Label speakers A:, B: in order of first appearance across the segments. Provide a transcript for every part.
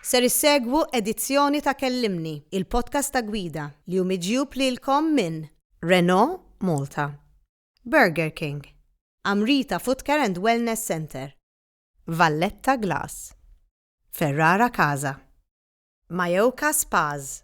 A: Ser issegwu edizzjoni ta' Kellimni, il-podcast ta' gwida, li hu miġjub lilkom minn Renault Malta, Burger King, Amrita Footcare and Wellness Centre, Valletta Glass, Ferrara Casa, Mayoka Spas,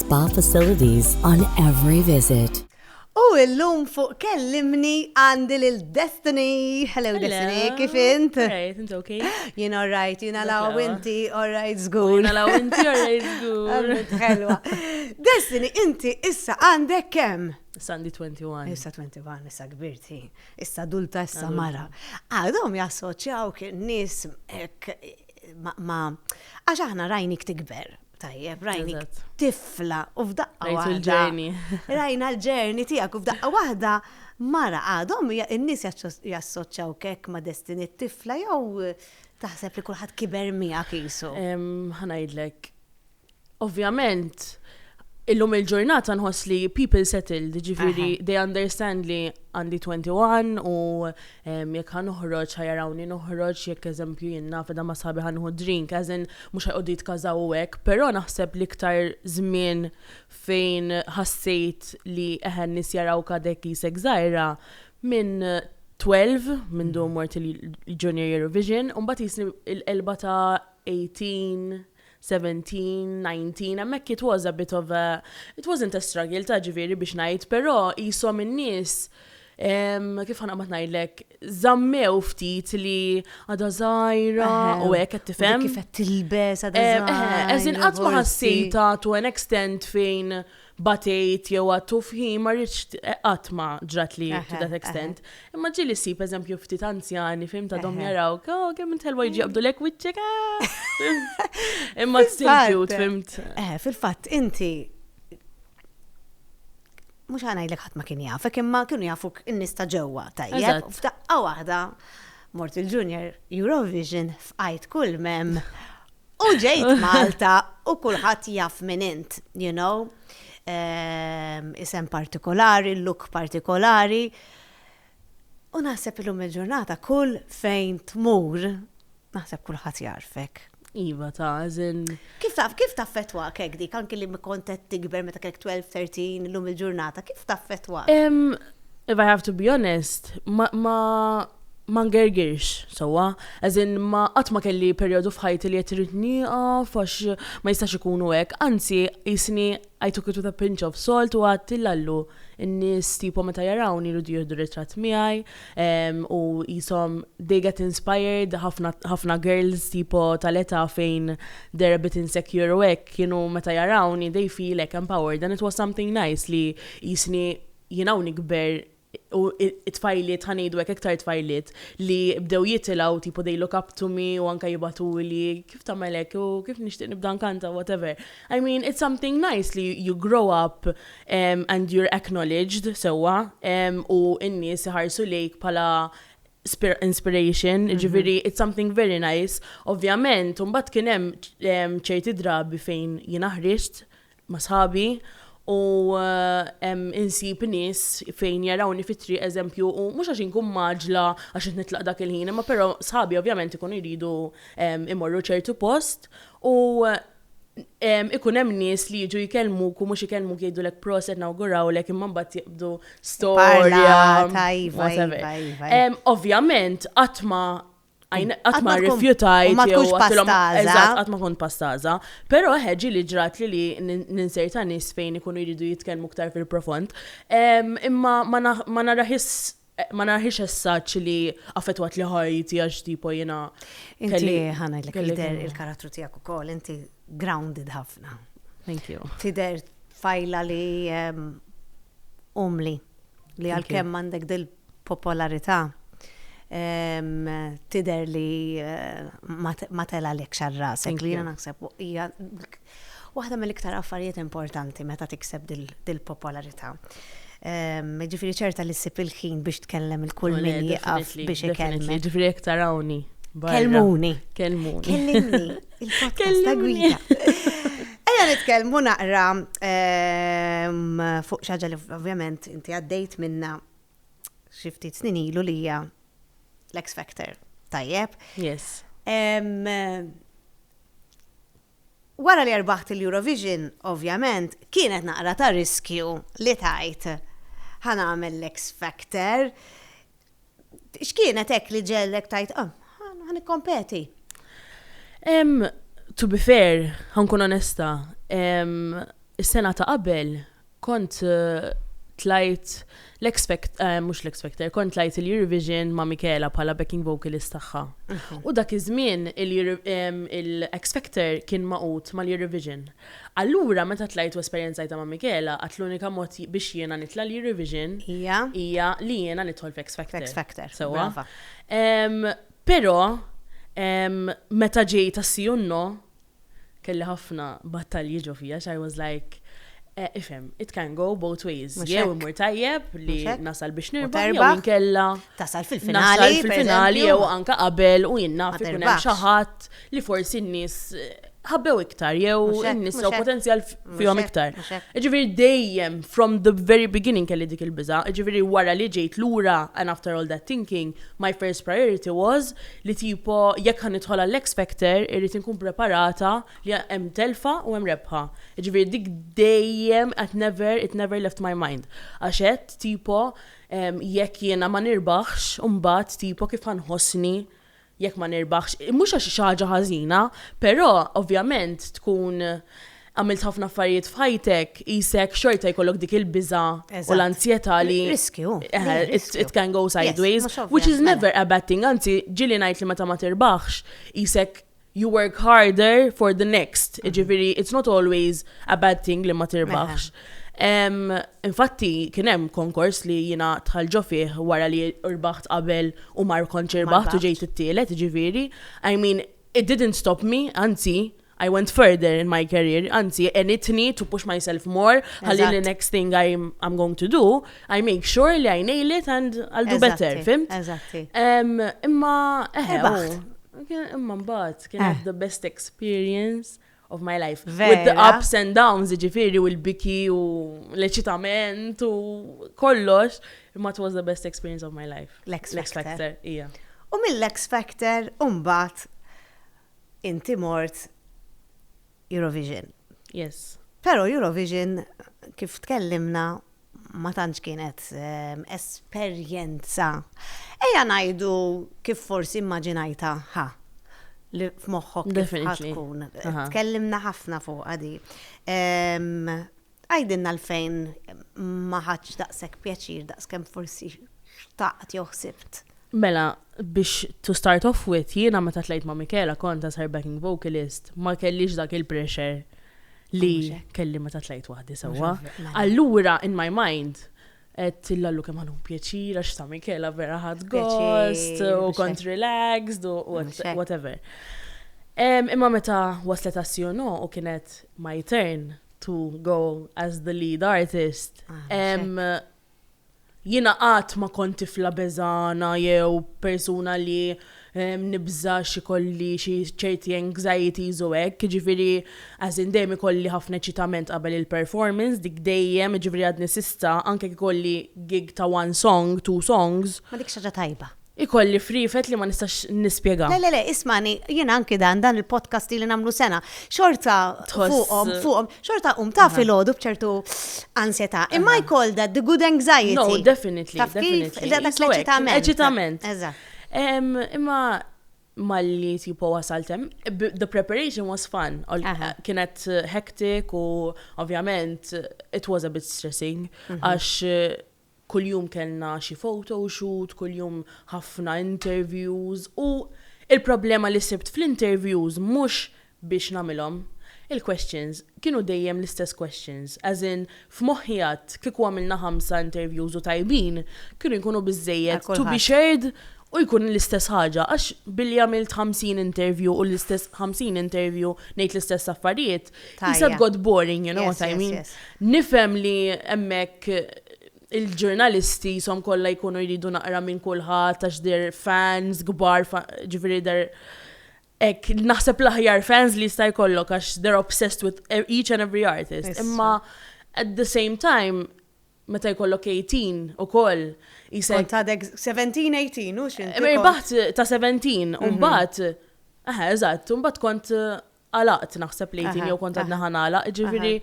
B: Spa facilities on every visit. U illum
A: fuq kellimni għandi lil Destiny. Hello, Destiny, kif int? Alright, int ok?
C: Jien alright, jien
A: għalaw inti alright zgur. Jien għalaw inti alright zgur. Helwa. Destiny, inti issa għandek kem? Issa għandi 21.
C: Issa 21, issa
A: kbirti. Issa adulta, issa mara. Għadhom jassoċjaw kien nis ma' għax aħna rajnik tikber. Tajjeb, rajni tifla u f'daqqa waħda. Rajna l-ġerni tiegħek u f'daqqa waħda mara għadhom in-nies jassoċċaw kek ma' destini tifla jew taħseb li kulħadd kiber miegħek isu. Ħanajdlek.
C: Ovvjament, illum il-ġurnata nħoss li people settled, ġifiri they understand li għandi 21 u Jekk ħa noħroġ, ħa jarawni noħroġ, jekk eżempju jien naf qiegħda ma' sħabi ħa nieħu drink, as in mhux ħa jqogħdu jitkażaw u hekk, però naħseb l-iktar żmien fejn ħassejt li eħe n-nies jarawk għadek qisek żgħira minn twelv, mindu mort il-Junior Eurovision, u mbagħad qisni l-qelba ta' eighteen, seventeen, nineteen, hemmhekk it was a bit of a, it wasn't a struggle ta' ġifieri biex ngħid, però qishom in-nies kif ħa naqbad ngħidlek, żammew ftit li għadha żgħira u hekk qed tifhem. Kif qed tilbes
A: għadha żgħira. Eżin qatt ma
C: ħassejta to an extent fejn batejt jew għattu fħi ma rridx qatt ma ġratli to that extent. Imma ġieli ssib eżempju ftit anzjani fim ta' dom jaraw, oh kemm int ħelwa jiġi qabdu lek wiċċek. Imma still cute fimt. Eh, fil-fatt inti
A: mhux ħanajdlek ħadd ma kien jafek imma kienu jafuk in-nies ta' ġewwa tajjeb. F'daqqa waħda mort il-Junior Eurovision f'qajt kull mem U ġejt Malta u kulħadd jaf minn int, you know, ehm, isem partikolari, look partikolari. U naħseb illum il-ġurnata kull fejn tmur, naħseb kulħadd jarfek. Iva ta'
C: zin. Kif taf, kif taf
A: fetwa kek dik, anki li kontet tikber meta kek 12-13 l-lum il-ġurnata, kif taf fetwa? If I
C: have to be honest, ma, ma ma ngirgirx sewwa, as in ma qatt ma kelli perjodu f'ħajti li qed irrid nieqaf għax ma jistax ikun hu hekk, anzi qisni I took it with a pinch of salt u għedt li Lallu n-nies tipo meta jarawni jridu jieħdu ritratt miegħi u qishom they get inspired, ħafna ħafna girls tipo tal-età fejn they're a bit insecure u hekk kienu meta jarawni they feel hekk empowered and it was something nice li qisni jien hawn nikber u t-tfajliet, ħa ngħidu hekk, iktar tfajliet li bdew jitilgħu tipo they look up to me u anke jibgħatuli kif tagħmel hekk u kif nixtieq nibda nkanta whatever. I mean it's something nice li you grow up um, and you're acknowledged sewwa um, u n-nies iħarsu lejk bħala inspiration, mm -hmm. ġifiri, it's something very nice. Ovvjament, un bat kienem ċerti drabi fejn jina ħriġt, ma' sħabi u insib nies fejn jarawni fit-triq eżempju u mhux għax inkun maġla għax qed nitlaq dak il-ħin imma però sħabi ovvjament ikunu jridu imorru ċertu post u ikun hemm nies li jiġu jkellmuk u mhux ikellmuk jgħidulek proset nawgurawlek imma mbagħad jibdu storja. Iva, iva, iva. Ovvjament qatt ma Għajn, għat ma rifjutajt. Ma tkunx pastaza. Eżat, għat ma kont pastaza. Pero ħeġi li ġrat li li ninserta nis fejn ikunu jridu jitkelmu ktar fil-profond. Imma ma naraħis ma narħix essaċ li affetwat li ħajti għax tipo jena. Inti
A: ħana li kider il-karattru tijak u kol, inti grounded ħafna. Thank you.
C: Tider fajla
A: li umli li għal-kem mandek del popolarità tidher li ma telgħalekx għal rasek li jiena naħseb hija waħda mill-iktar affarijiet importanti meta tikseb dil-popolarità. Ġifieri ċerta li ssib il-ħin biex tkellem il-kull min jieqaf biex ikellem. Ġifieri jekk tarawni.
C: Kelmuni.
A: Kelmuni. Kellimni.
C: Il-podcast
A: ta' gwida. Ejja nitkellmu naqra ehm, fuq xaġa li ovvjament inti għaddejt minna xi ftit snin ilu li hija l-X Factor. Tajjeb. Yes.
C: Ehm,
A: wara li erbaħt il-Eurovision, ovvjament, kienet naqra ta' riskju li tajt ħan għamel l-X Factor. X'kienet hekk li ġellek tajt, ah, ħa nikkompeti?
C: To be fair, ħankun onesta, is-sena ta' qabel kont eh, tlajt l-expect, eh, mhux l-expecter, kont tlajt il-Eurovision ma' Mikela bħala backing vocalist tagħha. Mhm. U dak iż-żmien il-expecter kien maqut mal-Eurovision. Allura meta tlajt u esperjenzajtha ma' Michela, għad l-unika mod biex jiena nitla' l-Eurovision hija li jiena nidħol f'X Factor. F'X Factor, brava. Però meta ġej ta' Sì u No, kelli ħafna battalji ġo fija għax I was like, ifhem, it can go both ways. Jew imur tajjeb li nasal biex nirbaħ jew inkella tasal
A: fil-finali jew anke
C: qabel u jien naf ikun hemm xi ħadd li forsi n-nies ħabbew iktar, jew nisa u potenzjal fihom iktar. Ġifiri dejjem, from the very beginning kelli dik il-biza, ġifiri wara li ġejt lura, and after all that thinking, my first priority was li tipo jekk ħan nidħol għall-X Factor, irrit nkun preparata li hemm telfa u hemm rebħa. Ġifiri dik dejjem, at never, it never left my mind. Għaxet, tipo, jekk jiena ma nirbaħx, umbat, tipo, kif ħanħosni jekk ma nirbaħx, mhux għax hi xi ħaġa ħażina, però ovvjament tkun għamilt ħafna affarijiet f'ħajtek, qisek xorta jkollok dik il-biża' u l-anzjetà li. Riskju.
A: It can
C: go sideways, which is never a bad thing, anzi ġieli ngħid li meta ma tirbaħx, qisek you work harder for the next. Mm. Ġifiri, it's not always a bad thing li ma tirbaħx. Infatti, kienem konkors li jina tħalġo fih wara li rbaħt qabel u mar konċer baħt u ġejt it-tielet, ġifiri. I mean, it didn't stop me, anzi, I went further in my career, anzi, and it need to push myself more, għalli the next thing I'm, I'm going to do, I make sure li I nail it and I'll do better, fimt? Eżatti.
A: Imma,
C: eħe, Imma mbagħad kien eh. the best experience of my life. Vera. With the ups and downs, ġifiri, u l-biki, u l-eċitament, u kollox. Imma it was the best experience of my life. L-X Factor.
A: Ija. U
C: mill-X
A: Factor, umbat, inti mort Eurovision. Yes.
C: Pero Eurovision
A: kif tkellimna ma tantx kienet ehm, esperjenza. Eja ngħidu kif forsi immaġinajta ħa li f'moħħok kif tkun. Tkellimna ħafna fuq għadi. Ehm, Għidilna l-fejn ma ħadtx daqshekk pjaċir daqskemm forsi xtaqt jew ħsibt. Mela,
C: biex to start off with, jiena meta tlejt ma' Michaela kont as her backing vocalist ma kellix dak il-pressure li kelli meta tlejt waħdi sewwa. Allura in my mind qed illallu kemm ħa nieħu pjaċir għax ta' Michaela vera ħadt gost u kont relaxed u whatever. Imma meta waslet għas-CNO u kienet my turn, to go as the lead artist. Jina qatt ma kont tifla beżana jew persuna li nibża xi kolli xi ċerti anxieties u hekk, ġifieri as in dejjem ikolli ħafna eċitament qabel il-performance, dik dejjem, ġifieri għadni sissa anke jekk ikolli gig ta' one song, two songs. Ma dik xi ħaġa tajba.
A: Ikolli friefet
C: li ma nistax nispjega. Le le le, ismani,
A: jiena anki dan, dan il-podcast li nagħmlu sena, xorta fuqhom, fuqhom, xorta qum ta' filgħodu b'ċertu ansjetà. Imma I call that the good anxiety. No, definitely, definitely.
C: Dak
A: l-eċitament. Eċitament.
C: Eżatt.
A: Imma
C: malli tipo wasaltem, the preparation was fun. Kienet hectic u ovvjament it was a bit stressing mhm. għax Kuljum kellna xi photo shoot, kuljum ħafna interviews u l-problema li sibt fl-interviews mhux biex nagħmilhom, il-questions kienu dejjem l-istess questions, as in f'moħħi għadt kieku għamilna ħamsa interviews u tajbin kienu jkunu biżżejjed to be shared u jkun l-istess ħaġa għax billi għamilt ħamsin interview u l-istess ħamsin interview ngħid l-istess affarijiet Jisa god boring, you know what I mean? Nifem li emmek il-ġurnalisti som kolla jkunu jridu naqra minn kullħat, għax dir fans, gbar, ġifiri dir ek naħseb l-aħjar fans li jista' jkollok għax they're obsessed with e, each and every artist. Imma at the same time, meta jkollok 18 u koll, jisek. Ta' 17-18, u
A: xin. Irbaħt ta' 17,
C: un bat, eħe, eżatt, un bat kont għalaqt naħseb li jtin jew kont għadna ħan għalaq, ġifiri.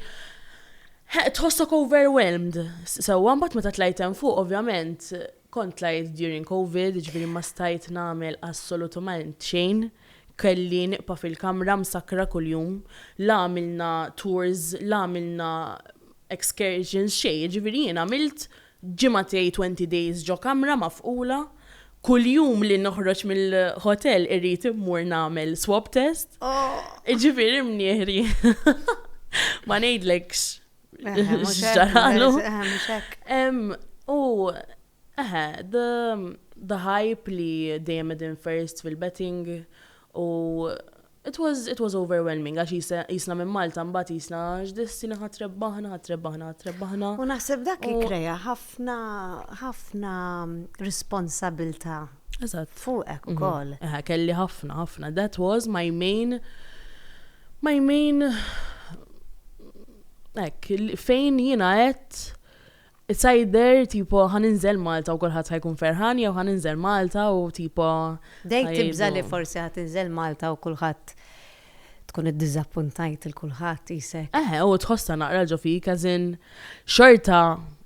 C: Tħossok overwhelmed. Sewa, mbagħad meta tlajt hemm fuq, ovvjament, kont tlajt during COVID, ġifiri ma stajt nagħmel assolutament xejn. Kelli niqpa fil-kamra msakra kuljum, la għamilna tours, la għamilna excursions xejn, ġifiri jien għamilt Ġimgħa tiegħi twenty days ġo kamra mafqula, kull jum li noħroġ mill-hotel irrid immur nagħmel swab test, jiġifieri mnieħri ma ngħidlekx x'ġaralu. U eħe, the hype li dejjem qegħdin first fil-betting u It was, it was overwhelming għax qisha, qisna minn Malta mbagħad qisna x'destin aħna trebbaħna, aħna trebbaħna, aħna trebbaħna. U naħseb dak
A: ikkrea ħafna, ħafna responsabilità fuqek ukoll. Eżatt. Eħe, kelli ħafna,
C: ħafna. That was my main, my main hekk, fejn jiena għedt, Issa jidher tipo ħa ninżel Malta u kulħadd ħa jkun ferħan jew ħa ninżel Malta u tipo ħa jgħidu. Tibża'
A: li forsi ħa tinżel Malta u kulħadd tkun iddiżappuntajt lil kulħadd qisek. Eħe u tħossha naqra
C: ġo fik as in xorta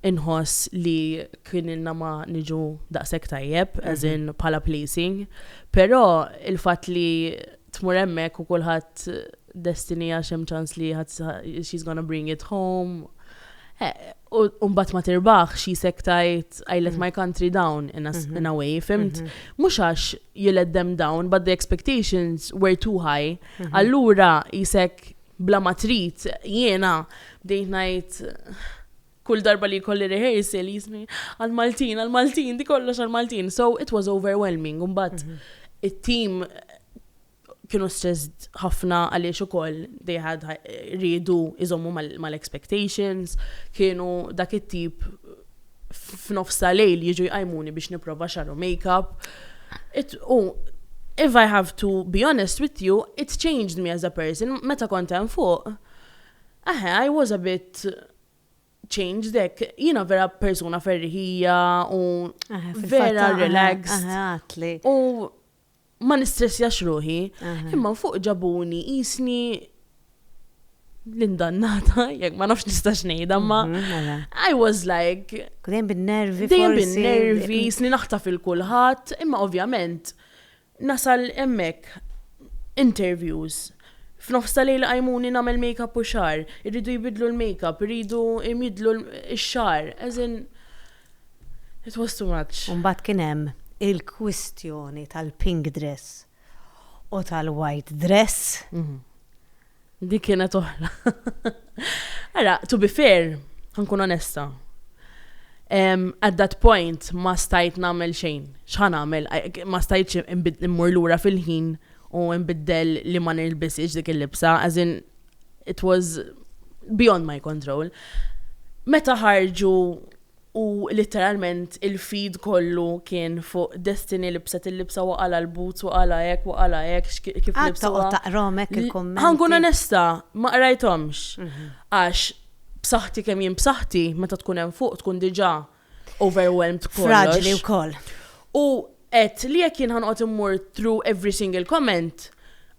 C: inħoss li kien ilna ma niġu daqshekk tajjeb as in bħala placing però il-fatt li tmur hemmhekk u kulħadd destiny għax hemm ċans li she's gonna bring it home. Eh, u mbagħad ma tirbaħx jisek tajt I let mm. my country down in a, mm-hmm. in a way, fimt? Mm-hmm. Mhux għax you let them down, but the expectations were too high. Mm-hmm. Allura jisek bla matrit jiena bdejt ngħid Kull darba li jkolli rehearsal jisni għall-Maltin, għall-Maltin, di kollox għall-Maltin. So it was overwhelming. Mbagħad it-team kienu stressed ħafna għaliex ukoll they had riedu iżommu mal-expectations, kienu dak it-tip f'nofsa lejl jiġu jqajmuni biex nipprova xaru make-up. U if I have to be honest with you, it changed me as a person. Meta kont hemm fuq, aħe, I was a bit changed hekk, jiena vera persuna ferriħija u eh, vera eh, relax. Eh, u ma nistressjax ruħi, imma fuq ġabuni jisni l-indannata, jek ma nafx nistax nejda, ma mhm, I was like. Dejjem bin-nervi.
A: Dejjem bin-nervi, jisni
C: naħta fil-kulħat, imma ovvjament Nasal hemmhekk, interviews, f'nofs ta' lejl iqajmuni nagħmel makeup u xagħar, iridu jbiddlu l-makeup, iridu jmiddlu x-xagħar, as in it was too much. U mbagħad kien hemm
A: il-kwistjoni tal-pink dress u tal-white dress.
C: Dik kienet oħra. Ara, to be fair, ħankun onesta. Um, at that point ma stajt namel xejn. X'ħan għamel? Ma stajt immur lura fil-ħin u nbiddel li ma nilbisix dik il-libsa, as in it was beyond my control. Meta ħarġu u litteralment il-feed kollu kien fuq Destiny libset il-libsa wa qala' l-boots wa qala' hekk wa qala' hekk x'ki-, kif Għad libsuha. toqgħod taqrahom hekk il-kummenti?
A: Ħa nkun onesta,
C: ma qrajthomx. Għax b'saħħti kemm jien b'saħħti, meta tkun hemm fuq tkun diġà overwhelmed b'kollox. Fraġli wkoll.
A: U
C: għedt li jekk jien ħa noqgħod immur through every single comment,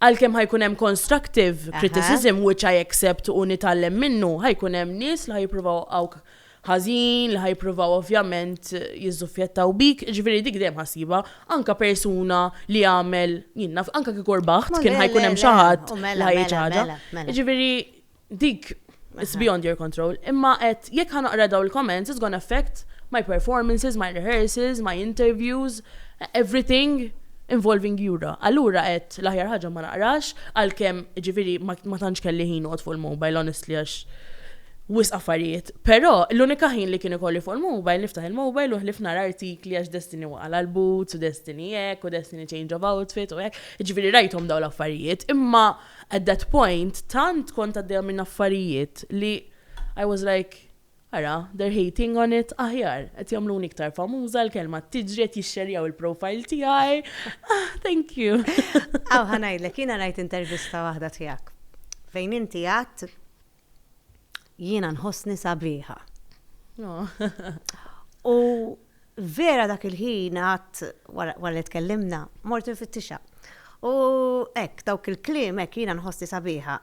C: għalkemm ħa jkun hemm constructive criticism, which I accept u nitgħallem minnu, ħa jkun hemm nies li ħa jippruvaw iwaqgħuk ħażin, li ħa jippruvaw ovvjament jiżżuffjettaw bik, jiġifieri dik dejjem ħa ssibha, anke persuna li għamel, jien naf, anke kieku rbaħt kien ħa jkun hemm xi ħadd li mela, ħa jgħid mela, mela, Jiġifieri dik it's beyond your control. Imma qed jekk ħa naqra daw il-comments it's gonna affect my performances, my rehearsals, my interviews, everything involving Jura. Allura qed l-aħjar ħaġa ma naqrax għalkemm ġifieri ma tantx kelli ħin noqgħod fuq il-mobile honestly għax wisq affarijiet. Però, l-unika ħin li kien ikolli fuq il-mobile, niftaħ il-mobile u ħlief nara artikli għax Destiny waqa' l-boots u Destiny hekk u Destiny change of outfit u hekk, jiġifieri rajthom dawn l-affarijiet, imma at that point tant kont għaddejja minn affarijiet li I was like, ara, they're hating on it, aħjar, qed jagħmluni iktar famuża, l-kelma qed tiġri, qed jixxerjaw il-profile tiegħi, ah, thank you. Aw, ħa ngħidlek,
A: jiena rajt intervista waħda tiegħek fejn inti għedt jiena nħossni sabiħa. U vera dak il-ħin għat wara li tkellimna, mort nfittixa. U ek, dawk il-klim ek jiena nħossni sabiħa.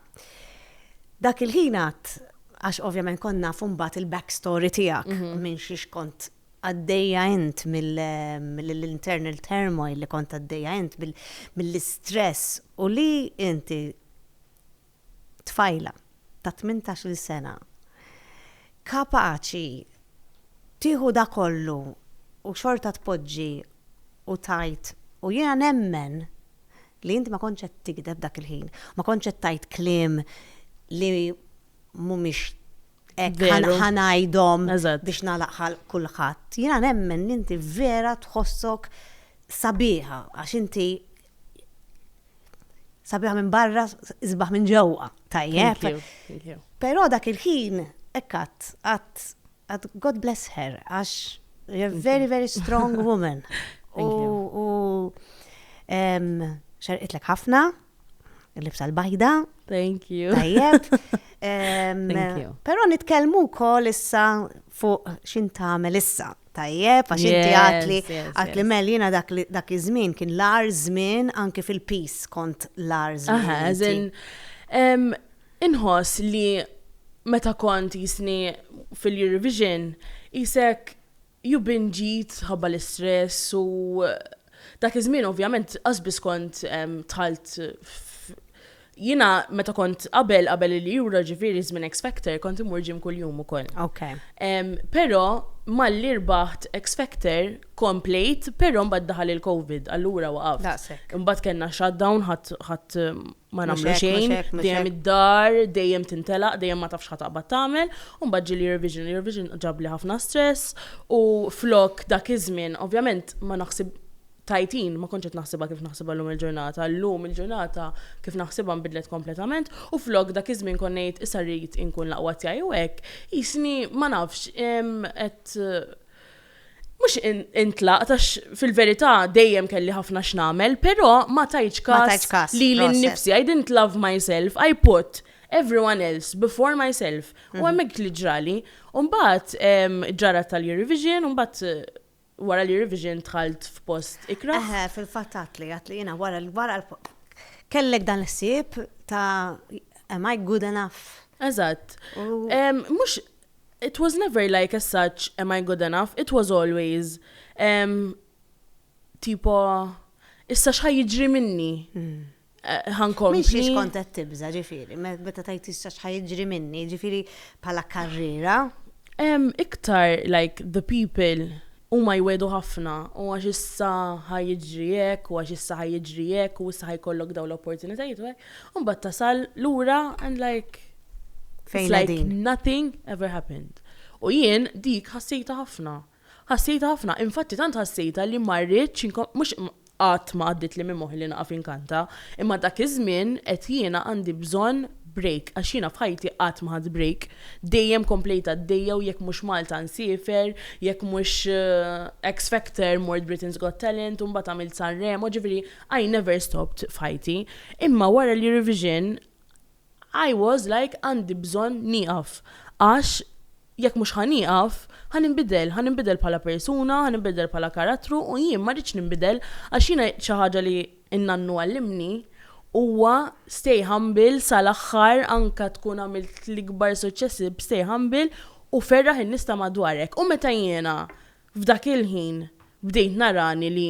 A: Dak il-ħin għat, għax ovvjament konna fumbat il-backstory tijak mhm. minn xiex kont għaddeja int mill-internal turmoil li kont għaddeja int mill-istress u li inti tfajla ta' tmintax-il sena kapaċi tieħu da kollu u xorta tpoġġi u tgħid u jiena nemmen li int ma kontx qed tigdeb dak il-ħin, ma kontx qed tgħid kliem li mhumiex hekk ħa ngħidhom biex nagħlaq ħalq kulħadd. Jiena nemmen li inti vera tħossok sabiħa għax inti Sabiħa minn barra, isbaħ minn ġewwa, tajjeb. Però dak il-ħin, ekkat, għat, għat, God bless her, għax, you're a very, very strong woman. U, xerqitlek ħafna, l-libsa l-bajda. Thank you.
C: Tajjeb. Pero nitkelmu kol
A: issa fuq xin tamel issa. tajjeb, għax inti għatli, għatli mel jina dak iż-żmien kien l-ar żmien anke fil-pis kont l-ar żmien. Inħoss
C: li meta kont jisni fil-Eurovision, jisek ju binġit ħabba l-istress u dak iż-żmien ovvjament qasbis kont tħalt Jiena meta kont qabel qabel il-Euro ġifieri żmien X Factor kont imur gym kuljum ukoll. Okay. Em,
A: però
C: malli rbaħt X Factor komplejt, però mbagħad daħal il-COVID, allura waqaft. Daqshekk. Imbagħad kellna shutdown ħadd ħadd ma Mhux nagħmlu hekk, xejn, mhux hekk, mhux dejjem hekk. id-dar, dejjem tintelaq, dejjem ma tafx ħataqbad tagħmel, u mbagħad ġie l-Eurovision, l-Eurovision ġabli ħafna stress u flok dak iż-żmien ovvjament ma naħsib Tajtin, ma kontx qed naħsibha kif naħsibha llum il-ġurnata. Llum il-ġurnata kif naħsibha nbidlet kompletament u flok dak iż-żmien kont ngħid issa rrid inkun l-aqwa tiegħi u hekk, qisni ma nafx, qed mhux intlaqt għax fil-verità dejjem kelli ħafna x'nagħmel, però ma tajtx każ lili nnifsi. I didn't love myself, I put everyone else before myself. U mhm. hemmhekk li ġrali. U mbagħad ġara tal-Eurovision, u mbagħad Wara li revision dħalt f'post ikrah? Eħe, fil-fatt għadtli,
A: għadtli jiena wara l-wara kellek dan l-ħsieb ta' am I good enough? Eżatt.
C: Mhux it was never like as such am I good enough, it was always tipo issa x'ħa jiġri minni? Ħa
A: nkompli. Mhix għax kont qed tibża', ġifieri, meta tgħid issa x'ħa jiġri minni, ġifieri bħala karriera? Iktar
C: like the people huma jwiegħdu ħafna u għax issa ħa jiġri hekk u għax issa ħa jiġri hekk u issa ħa jkollok dawn l-opportunitajiet u hekk, u mbagħad tasal lura and like it's like nothing ever happened. U jien dik ħassejtha ħafna. Ħassejtha ħafna, infatti tant ħassejtha li ma rridtx inkon, mhux qatt ma għaddietli minn moħħi li naqaf inkanta, imma dak iż-żmien għedt jiena għandi bżonn break għax jiena f'ħajti qatt ma ħadt break, dejjem komplejt għaddejja u jekk mhux Malta nsiefer, jekk mhux X Factor mort Britain's Got Talent u mbagħad għamilt Sanremo, ġifieri I never stopped f'ħajti. Imma wara l-Eurovision I was like għandi bżonn nieqaf għax jekk mhux ħa nieqaf ħa ninbidel, ħa ninbidel bħala persuna, ħa ninbidel bħala karattru u jien ma rridx ninbidel għax jiena xi ħaġa li n-nannu għallimni huwa stay humble sal-aħħar anke tkun għamilt l-ikbar suċċessi stay humble u ferraħ in-nies ta' madwarek u meta jiena f'dak il-ħin bdejt narani li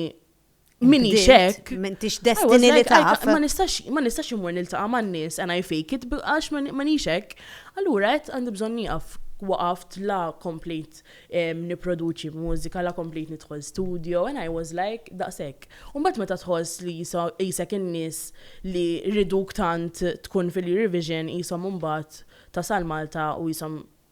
C: Minni xek. Mintix destini
A: li taf. Ma nistax, ma nistax
C: imur niltaqa ma' n-nis, and I fake it, għax ma nixek. Allura, għet għandi bżon niqaf waqaft la komplejt niproduċi mużika, la komplejt nidħol studio, and I was like, daqsek. Umbat meta tħoss li jisek in-nis li riduk tant tkun fil-Eurovision jisom umbat tasal Malta u jisom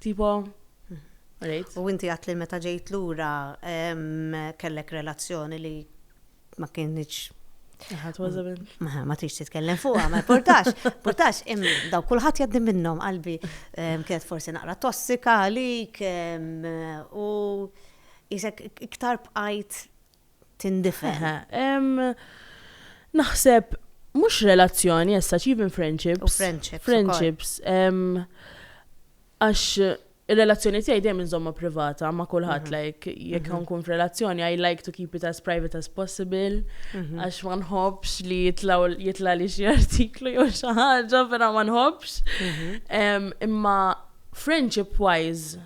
C: Tipo, rejt. U inti għat li meta
A: ġejt lura kellek relazzjoni li ma kienx. Ħadd ważabin. Ma tix titkellem fuqha, ma portax, portax, daw kulħadd jaddi minnhom qalbi kienet forsi naqra tossika għalik u jisek iktar bqajt tindifen. Naħseb
C: mhux relazzjoni as such, even friendships. U friendships. Friendships. Għax il-relazzjoni tiegħi dejjem inżomma privata ma' kulħadd mhm. like jekk mhm. nkun f'relazzjoni I like to keep it as private as possible mhm. għax ma nħobbx li jitla' li xi artiklu jew xi ħaġa vera ma nħobbx. Imma friendship wise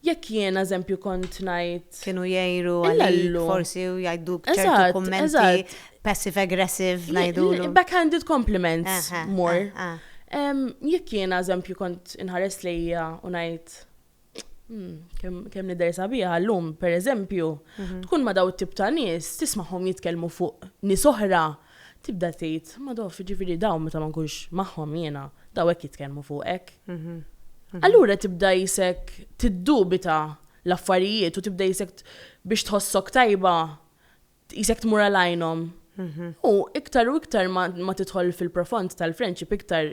C: Jekk jien, eżempju, kont ngħid. Kienu jgħiru
A: għalik forsi u jgħiduk ċertu kummenti passive aggressive ngħidulu. Backhanded compliments
C: more. Jekk jien, eżempju, kont inħares lejja u ngħid hmm, kemm nidher sabiħa llum, pereżempju, mhm. tkun ma daw it-tip ta' nies tismagħhom jitkellmu fuq nies oħra Tibda tgħid, Madoff, jiġifieri dawn meta ma nkunx magħhom jiena, dawn hekk jitkellmu fuqek. Allura tibda qisek tiddubita l-affarijiet u tibda qisek biex tħossok tajba qisek tmur għal għajnhom. U iktar u iktar ma tidħol fil-profond tal-friendship iktar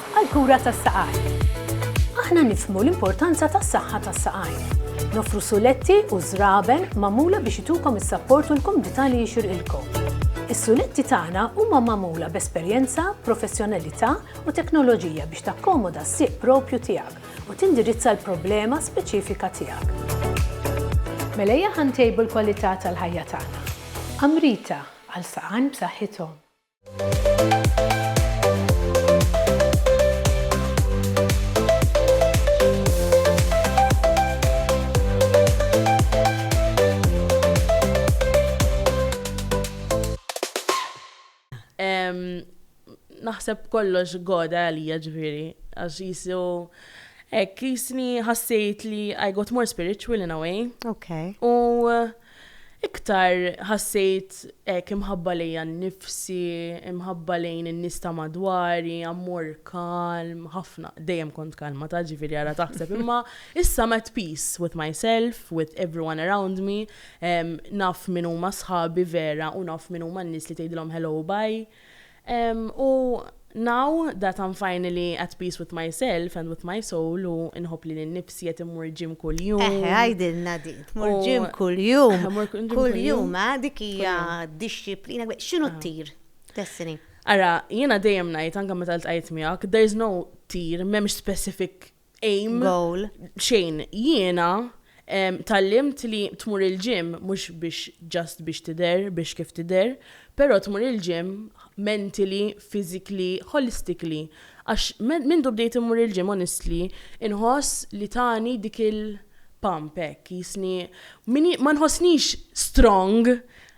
D: għall-kura tas-saqajn. Aħna nifhmu l-importanza tas-saħħa tas-saqajn. Noffru suletti u żraben magħmula biex itukom is-sapport u l-kumdità li jixirqilkom. Is-suletti tagħna huma magħmula b'esperjenza, professjonalità u teknoloġija biex takkomoda s-sieq proprju tiegħek u tindirizza l-problema speċifika tiegħek. Mela ejja ħa ntejbu l-kwalità tal-ħajja tagħna. Amrita, għal saqajn b'saħħithom.
C: naħseb kollox goda għalija ġviri, għax jisu ek jisni ħassejt li I got more spiritual in a way. Okay. U Iktar ħassejt hekk imħabba lejja nnifsi, imħabba lejn in-nies ta' madwari, ammor kalm, ħafna, dejjem kont kalma ta' ġifieri ara taħseb imma issa I'm at peace with myself, with everyone around me, naf min huma sħabi vera u naf min huma n-nies li tgħidilhom hello u bye. U now that I'm finally at peace with myself and with my soul u inħobb li l-nifsi qed immur ġim kuljum. Eħe, għajdilna din,
A: tmur ġim kuljum. Kuljum, eh, dik hija dixxiplina, x'inhu ah. t-tir? Destiny. Ara, jiena
C: dejjem ngħid anke meta ltqajt miegħek, there's no tir, m'hemmx specific aim, goal, xejn. Jiena tgħallimt li tmur il-gym mhux biex just biex tidher, biex kif tidher, però tmur il-gym mentally, physically, holistically. Għax mindu bdejt immur il-gym honestly inħoss li tani dik il-pump hekk qisni ma nħossnix strong,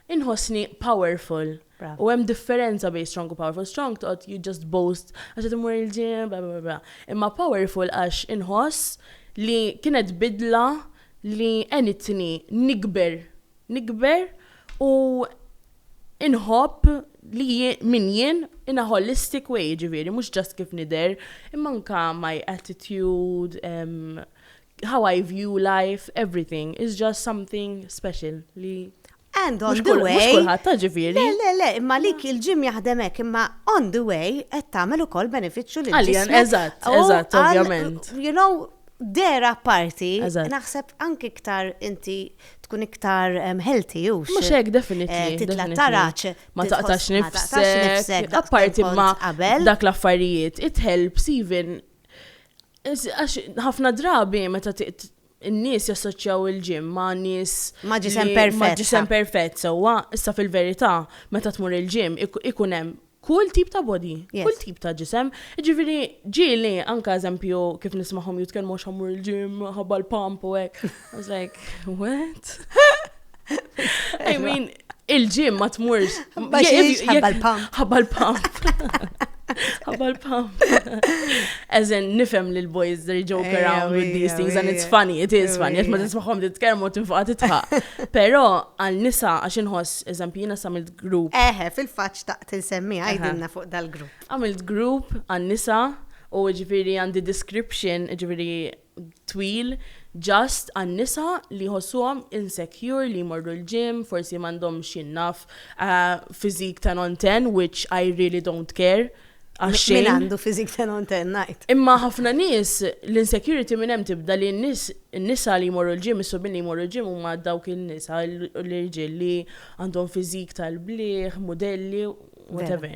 C: inħossni powerful. U hemm differenza bejn strong u powerful. Strong toqgħod you just boast għax qed immur il-gym, bla bla bla. Imma powerful għax inħoss li kienet bidla li għenitni nikber, nikber u inħobb li min jien in a holistic way, jiġifieri mhux just kif nidher, imma anke my attitude, how I view life, everything is just something special li And on the way. Mux
A: kulħadd ta' ġifieri.
C: Le, le, le, imma lik
A: il-ġim jaħdem hekk, imma on the way qed tagħmel ukoll benefiċċju lil Għaljan, eżatt,
C: eżatt, ovvjament. You know,
A: dera parti, naħseb
C: anki iktar
A: inti tkun iktar healthy u Mux hekk definitely. Eh,
C: titla taraċ.
A: Ma taqtax
C: nifsek. Apparti ma dak l-affarijiet, it helps even. Għax ħafna drabi meta In-nies jassoċjaw il-gym ma' nies Ma' ġisem li- perfett,
A: ma' ġisem sa. perfett
C: sewwa, issa fil-verità meta tmur il-gym ik- ikun hemm kull tip ta' body, Yes. kull tip ta' ġisem. Jiġifieri ġieli anke eżempju kif nismagħhom jitkellmu għax ħammur il-gym minħabba l-pump u hekk. I was like, what? I mean, Il-ġim ma tmurx. Ħabba
A: l-pump. Ħabba l-pump.
C: Ħabba l-pump. As in, nifem li l-boys, they joke eh, around with these things and it's funny, it is funny, jett ma tismaħom titkermu tinfuqa titħaq. Pero għal nisa għax inħoss, eżempju, jina samilt grupp. Eħe, fil-faċ ta'
A: tinsemmi għajdinna fuq dal-grupp. Għamilt grupp
C: għal nisa u ġifiri għandi description, ġifiri twil, just, għan-nisa li jħossuhom insecure li jmorru l-gym, forsi m'għandhomx jien naf, physique ten on ten which I really don't care għax xejn. Min għandu
A: physique ten on ten ngħid. Imma ħafna nies
C: l-insecurity minn hemm tibda li n-nies in-nisa li jmorru l-gym, is-subien li jmorru l-gym huma dawk in-nisa l-irġiel li għandhom physique tal-bliħ, mudelli, whatever.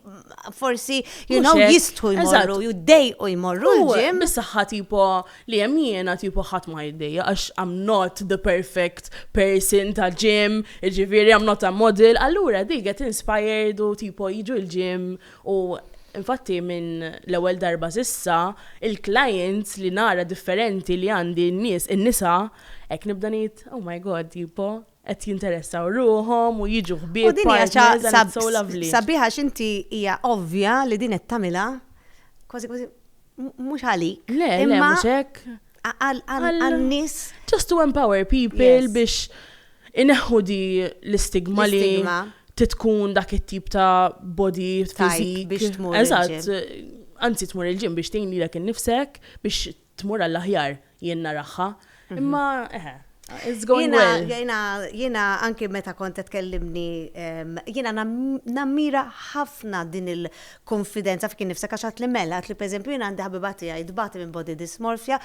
A: forsi, you know, jistħu jmorru, jiddejqu jmorru l-ġim. Bis-saħħa tipo
C: li hemm jiena tipo ħadd ma jiddejja għax I'm not the perfect person ta' ġim, ġifieri I'm not a model, allura di get inspired u tipo jiġu l-ġim u Infatti minn l-ewwel darba sissa, il-clients li nara differenti li għandi n-nies, in-nisa, hekk nibda ngħid, oh my god, tipo, qed jinteressaw ruħhom u jiġu ħbieb. U din hija xi ħaġa sabiħa għax inti
A: hija ovvja li din qed tagħmilha kważi kważi mhux għalik. Le, le, mhux hekk.
C: Għal-nies.
A: Just to
C: empower people biex ineħħu di l-istigma li titkun dak it-tip ta' body fizik biex tmur. Eżatt,
A: anzi
C: tmur il-ġim biex tgħin lilek innifsek biex tmur għall-aħjar jien naraha. Imma eħe, it's going well. Jiena, jiena
A: anki meta kont qed tkellimni, jiena nammira ħafna din il-konfidenza f'kien nifsek għax għad li mela, għad li pereżempju jiena għandi ħabiba tiegħi tbati minn body dysmorphia.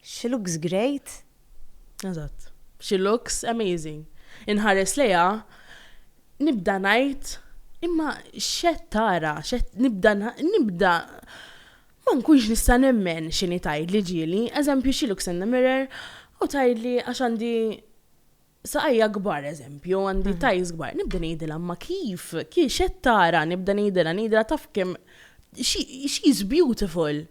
A: She looks great. Eżatt.
C: She looks amazing. Inħares lejha, nibda ngħid imma xed tara, xed nibda nibda Ma nkunx nista' nemmen x'inhi tgħidli ġieli, eżempju xi looks in the mirror u tgħidli għax għandi saqajja kbar eżempju, għandi thighs kbar, nibda ngħidilha imma kif, kif x'qed tara, nibda ngħidilha, ngħidilha taf kemm she, she is beautiful.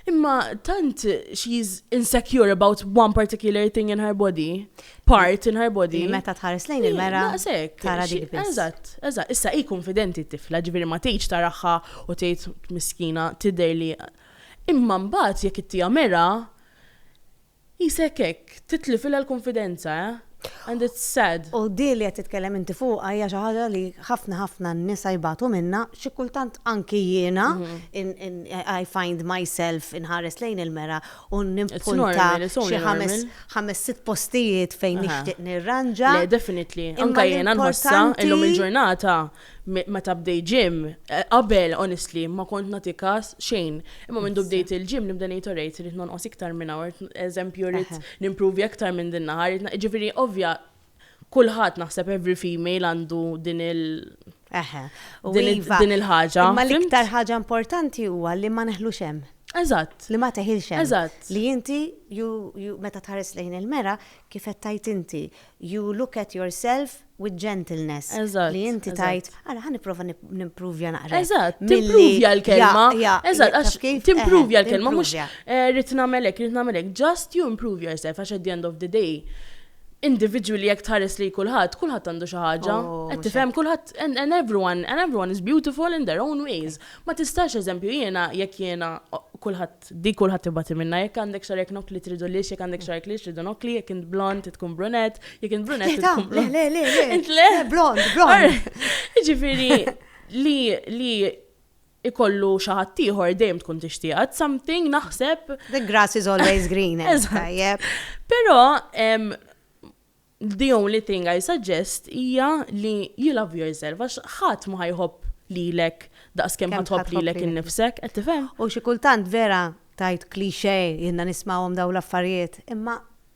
C: Imma tant she is insecure about one particular thing in her body. part in her body. Li meta tħares lejn il-mera.
A: Daqshekk. Tara dik biss. Eżatt, eżatt. Issa hi
C: konfidenti t-tifla, ġifieri ma tgħidx taraħħa u tgħid miskina tidher li. Imma mbagħad jekk ittija mera, isek hekk, titlifilha l-konfidenza, eh? And it's sad. U di li qed titkellem
A: inti fuqha hija xi ħaġa li ħafna ħafna nisa jbatu minna, xi kultant anki jiena mhm. I find myself inħares lejn il-mera u nimpunta xi ħames ħames sitt postijiet fejn nixtieq nirranġa. Le, definitely.
C: Anka jiena nħossha illum il-ġurnata meta bdej ġim, eh, qabel honestly ma kont nagħti każ xejn. Imma minn bdejt il-ġim nibda ngħid orejt irid nonqos iktar minn hawn, eżempju rrid nimpruvja iktar minn din naħar, ġifieri ovvja kulħadd naħseb every female għandu din il- Eħe.
A: U din il- iva, din il-ħaġa. Imma fimt?
C: l-iktar
A: ħaġa importanti huwa li ma neħlux hemm. Eżatt.
C: Li ma teħilx
A: hemm. Eżatt. Li inti,
C: you,
A: you, meta tħares lejn il-mera, kif qed tajt inti, you look at yourself with gentleness. Eżatt, Li inti eżatt.
C: tajt, għala
A: ħan niprofa nimpruvja naqra. Eżatt, Milli- timpruvja
C: l-kelma. Ja, ja, Eżatt, taf għax kif? Eħe, timpruvja l-kelma, mhux timpruvja. eh, rrid nagħmelek, rrid nagħmelek. Just you improve yourself, għax at the end of the day, individwi li jekk tħares li kulħadd, kulħadd għandu xi ħaġa. Oh, Qed tifhem kulħadd and, and everyone and everyone is beautiful in their own ways. Ma tistax eżempju jiena jekk jiena kulħadd di kulħadd ibati minna jekk għandek xarek nokli tridu lix, jekk għandek xarek lix tridu nokli, jekk int blond tkun brunet, jekk int brunet tkun blond. Le, le, le, le.
A: Blond, blond. Ġifieri
C: li li ikollu xi ħadd ieħor dejjem tkun tixtieqha, it's something naħseb. The grass is always
A: green. Eżatt.
C: Però the only thing I suggest hija li you love yourself għax ħadd ma ħajħobb lilek daqskemm Kemm ħatħobb ħatħobb lilek lilek. innifsek, qed tifhem? U xi kultant vera
A: tajt klixe jenna nismawhom daw l-affarijiet, imma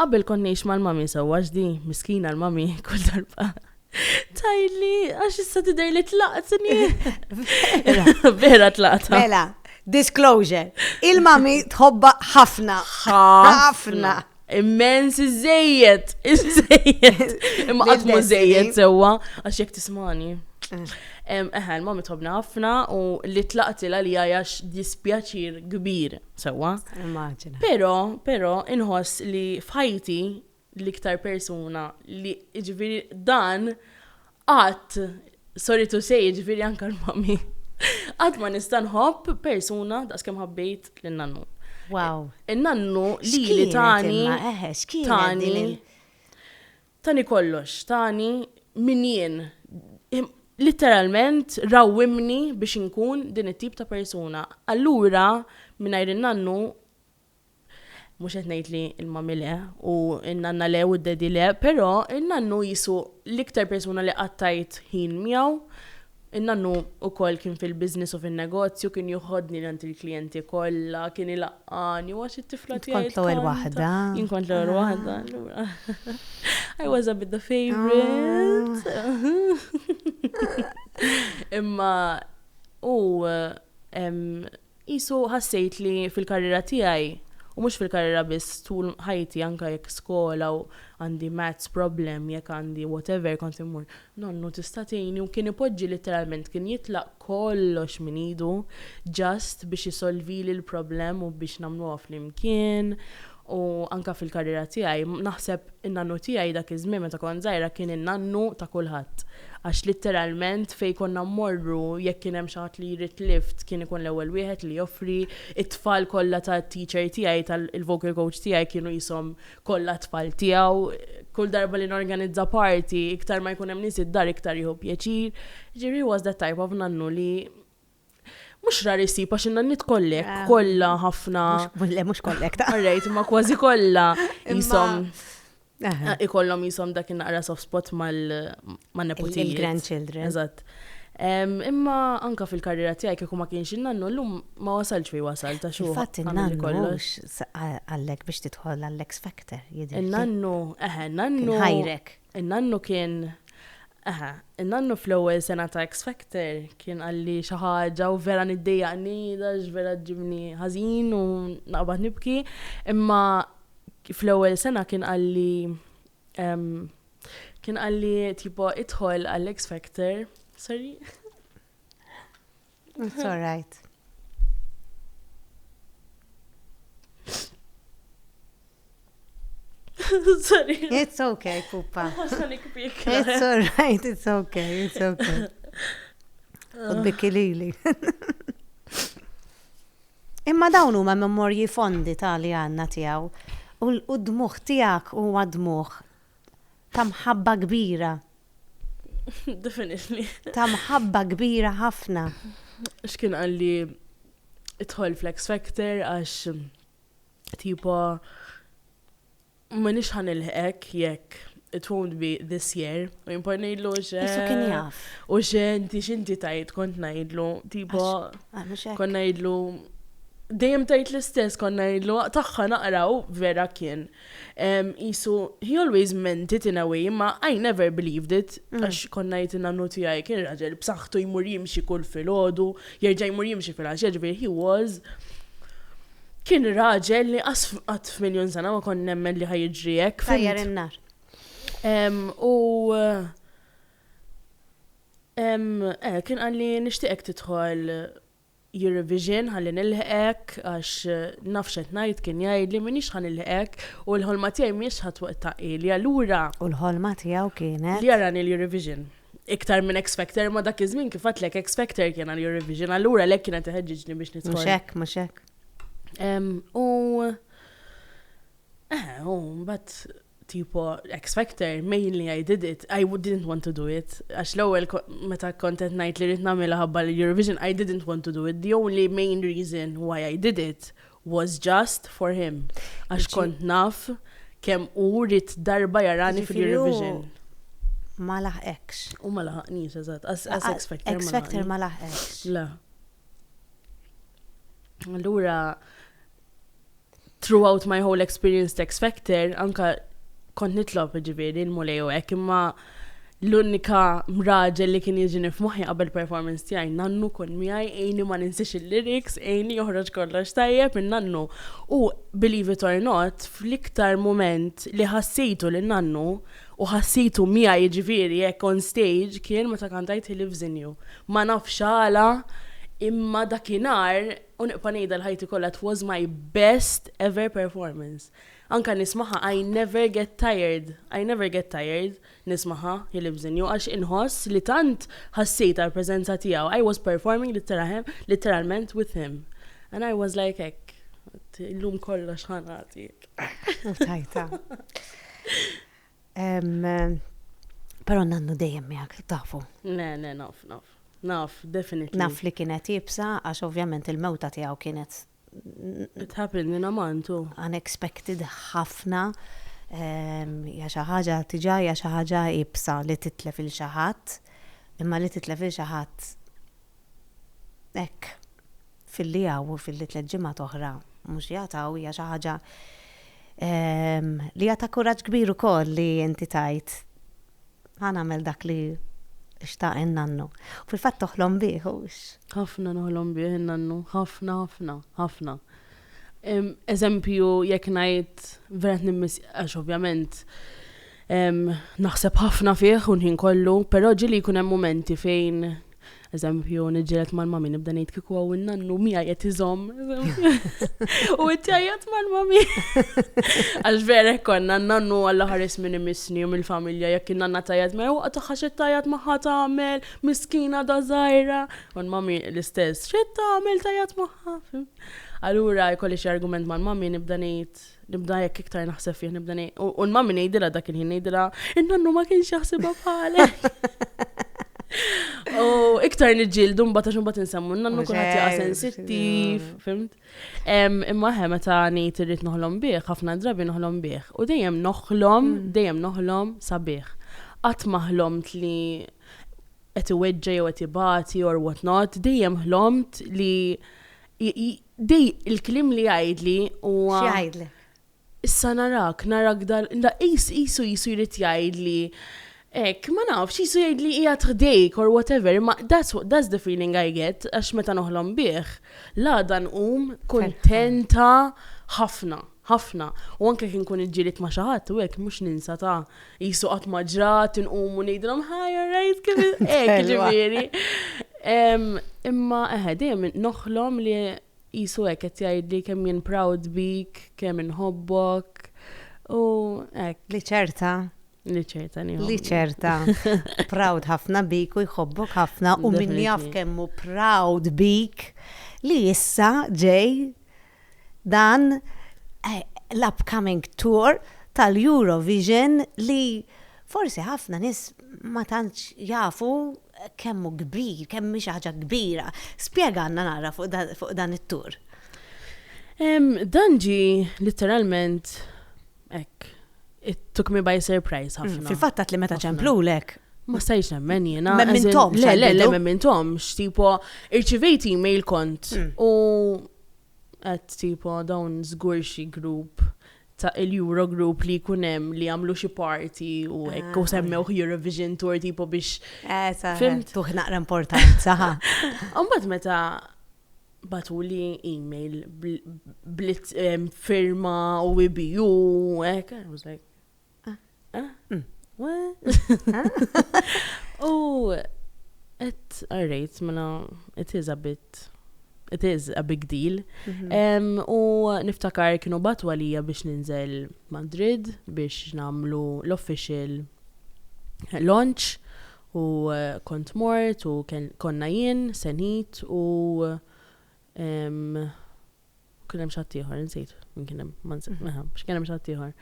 C: Qabel kont ngħix mal-mummy sewwa għax di, miskina l-mummy kull darba. Tajli, għax issa tidher li tlaqtni. Vera tlaqta. Mela,
A: disclosure. Il-mummy tħobba ħafna. Ħafna. Immens
C: iżejjed, iżejjed. Imma qatt mu żejjed sewwa għax jekk tismani. Mm. Eħe, l-mummy tħobna ħafna u li tlaqti l-għalija għax dispjaċir kbir. Sewwa. Immaġina. Però,
A: però
C: inħoss li f'ħajti l-iktar persuna li ġifieri dan qatt soritu sej ġifieri anke l-mami. Qatt ma nista' nħobb persuna daqskemm ħabbejt lin-nannu. Wow.
A: In-nannu
C: li li tani. Tani. Tani kollox, tani min jien. Litteralment rawwimni biex inkun din it-tip ta' persuna. Allura, mingħajr in-nannu, mhux qed ngħid li l-mommy le, u n-nanna le u d-daddy le, però n-nannu qisu l-iktar persuna li qattgħajt ħin miegħu In-nannu ukoll kien fil-business u fin-negozju, kien joħodni għand il-klijenti kollha, kien ilaqqagħni u għax it-tifla tiegħi tkanta. Int kont l-ewwel waħda.
A: Jien kont l-ewwel
C: waħda, allura. I was a bit the favorite. Imma hu Qisu ħassejt li fil-karriera tiegħi, u mhux fil-karriera biss tul ħajti anke jekk skola u għandi maths problem, jekk għandi whatever kont immur, nonnu tista' tgħinni u kien ipoġġi litteralment kien jitlaq kollox minn idu just biex isolvili l-problem u biex nagħmluha flimkien U anke fil-karriera tiegħi, naħseb in-nannu tiegħi dak iż-żmien meta kont żgħira kien in-nannu ta' kulħadd. Għax litteralment fejn konna mmorru jekk kien hemm xi ħadd li jrid lift kien ikun l-ewwel wieħed li joffri, it-tfal kollha tat-teacher tiegħi tal-vocal coach tiegħi kienu qishom kollha tfal tiegħu. Kull darba li norganizza party, iktar ma jkun hemm nies id-dar iktar jieħu pjaċir. Jiġifieri he was that type of nannu li Mux rar isib, għax inna nit kollek, ah. kolla ħafna. Le, mux kollek
A: ta' rejt, ma kważi kolla.
C: Jisom. Ah, ikollom jisom dak naqra soft spot mal-neputijiet. Il-grandchildren.
A: Eżat.
C: Imma anka fil-karriera tiegħi kieku ma kienx innannu llum ma wasalx fi wasal ta' xogħol. Fatt innannu kollox
A: għallek biex tidħol għall-X Factor. Innannu,
C: eħe, innannu. Ħajrek.
A: Innannu kien
C: Eħe, in-nannu fl-ewwel sena ta' X Factor kien qalli xi ħaġa u vera niddejjaqni għax vera ġibni ħażin u naqbad nibki, imma fl-ewwel sena kien qalli kien qalli tipo idħol għall-X Factor, sorry. It's
A: all
C: right. Sorry. It's okay,
A: pupa. It's all right, it's okay, it's okay. Ubbiki lili. Imma dawn huma memorji fondi ta' li għanna tiegħu u d-dmuħ tiegħek huwa dmuħ ta' mħabba kbira Definitely.
C: Ta' mħabba
A: kbira ħafna. X'kien
C: għalli idħol fl-X Factor għax tipo ma nix ħan il-hek jekk it won't be this year. U jimpa nejdlu xe. Isu kien jaf.
A: U xe inti
C: xinti tajt kont nejdlu. Tipo, ah, kont nejdlu. Dejjem tajt l-istess kont nejdlu. Taħħa naqraw vera kien. Qisu, he always meant it in a way, imma I never believed it, għax konna jgħid in-nannu tiegħi kien raġel b'saħħtu jmur jimxi kull filgħodu, jerġa' jmur jimxi filgħaxija, ġifieri he was kien raġel li qas qatt f'miljun sena ma kont nemmen li ħa jiġri hekk. Tajjar in-nar.
A: U
C: eh, kien qalli nixtieqek tidħol your revision ħalli nilħqek għax naf x'qed ngħid kien jgħidli m'iniex ħa nilħqek u l-ħolma tiegħi mhijiex ħa twettaq hi li allura U l-ħolma tiegħu
A: kienet? Li jarani l-Eurovision.
C: Iktar minn X Factor ma dak iż-żmien kif għedtlek X Factor kien għall-Eurovision allura għalhekk kien qed iħeġġiġni biex nidħol. Mhux hekk, mhux hekk.
A: U
C: Eħe, u mbagħad tipo X Factor, mainly I did it, I didn't want to do it. Għax l-ewwel meta kont qed ngħid li rrid nagħmilha ħabba l-Eurovision, I didn't want to do it. The only main reason why I did it was just for him. Għax kont naf kemm u rrit darba jarani fil-Eurovision. Ma
A: laħqekx. U ma laħqnix,
C: eżatt. X Factor. X Factor ma laħqekx.
A: La.
C: Allura, Throughout my whole experience t'X Factor, anke kont nitlob jiġifieri l-Mulej u hekk, imma l-unika raġel li kien jiġini f'moħħi qabel performance tiegħi, nannu kun miegħi, għinni ma ninsiex il-lyrics, għinni joħroġ kollox tajjeb minn nannu. U believe it or not, fl-iktar mument li ħassejtu lil nannu, u ħassejtu miegħi jiġifieri hekk on stage, kien meta kantajt He Lives In You. Ma nafx għala, imma dakinhar, U nibqa' ngħidha l-ħajti kollha it was my best ever performance. Anke nismagħha I never get tired, I never get tired nismagħha He lives in you għax inħoss li tant ħassejt għall-preżenza tiegħu, I was performing litteralment with him. And I was like hekk, illum kollox ħa nagħti. U tajtha.
A: Però nannu dejjem miegħek, tafu. Le, le, naf,
C: naf. Naf, definitely. Naf li kienet ibsa
A: għax ovvjament il-mewta tiegħu kienet It
C: happened in Amantu. Unexpected
A: ħafna. Ja xi ħaġa tiġa ja xi ħaġa ibsa li titlef il xi ħadd, imma li titlef il xi ħadd Hekk, filli hawn u filli tliet ġimgħat oħra mhux jagħtaw hija xi ħaġa li hija ta' kuraġġ kbir ukoll li inti tgħid ħa nagħmel dak li xtaq in-nannu. Fil-fatt toħlom bih hux. Ħafna noħlom
C: bih in-nannu, ħafna, ħafna, ħafna. Eżempju, jekk ngħid verat nimmis għax ovvjament naħseb ħafna fih u nħin kollu, però ġili jkun hemm momenti fejn Eżempju, niġġieled mal-mami nibda ngħid kieku għaw in-nannu miegħi qed iżomm. U qed jgħajjat mal-mami. Għax vera konna n-nannu għalla ħares minn imissni u mill-familja jekk in-nanna tajjat ma jwaqqa tagħha xi tajjat magħha tagħmel, miskina da żgħira. U l-mami l-istess, xi tagħmel tajjat magħha. Allura jkolli xi argument mal-mami nibda ngħid nibda jekk iktar naħseb fih nibda nej. U n-mammi nejdila dak il-ħin nejdila, in-nannu ma kienx jaħsibha bħalek. U iktar nġildu mbata xum bat nsemmu, n-nannu kull ħati għasen sittif, fimt? Imma ħe meta nejt irrit noħlom bieħ, ħafna drabi noħlom bieħ. U dejjem noħlom, mm. dejjem noħlom sabiħ. Qatt maħlomt li qed iweġġa jew qed ibati or what not, dejjem ħlomt li Dej il-kliem li jgħidli huwa. X'jgħidli?
A: Issa
C: narak, narak dal, da qis qisu jisu jrid jgħidli. Ek, ma nafx, jisu jgħidli hija tħdejk or whatever, imma that's, that's the feeling I get, għax meta noħlom bih, la dan um kontenta ħafna. ħafna u anke jekk inkun iġġieled ma' xi ħadd u hekk mhux ninsa ta' qisu qatt ma ġrat inqumu ngħidilhom hi all right kif hekk ġifieri. Imma eħe dejjem noħlom li qisu hekk qed jgħidli kemm jien proud bik, kemm inħobbok u hekk. Li ċerta. Li ċerta nieħu. Li ċerta. Proud ħafna bik u jħobbok ħafna u min jaf kemm hu proud bik li issa ġej dan l-upcoming tour tal-Eurovision li forsi ħafna nies ma tantx jafu kemm hu kbir, kemm hi xi ħaġa kbira. Spjegalna naqra fuq dan it-tour. Dan ġie litteralment Ek, it took me by surprise mm, ħafna. Fil-fatt għat li meta
A: ċemplulek. Ma stajx nemmen
C: jena. Memmintom. Le, le, le,
A: memmintom.
C: Xtipo, irċivejt email kont. Mm. U għat tipo dawn zgur xi grupp ta' il-Euro Group li kunem li għamlu xi party u ah. ekk u semmew Eurovision Tour tipo biex. Eh, Fim tuħ
A: naqra importanza. Umbat
C: meta Batuli email blit firma u IBU, ek, I was like, ah, ah, hmm, U et għarrejt, mela, it is a bit, it is a big deal. Mhm. U niftakar kienu batu għalija biex ninżel Madrid biex namlu l-official launch U kont mort u konna jien, Senid u kien hemm xi ħadd ieħor, insejt min kien hemm, ma nsejt, meħa, biex kien hemm xi ħadd ieħor.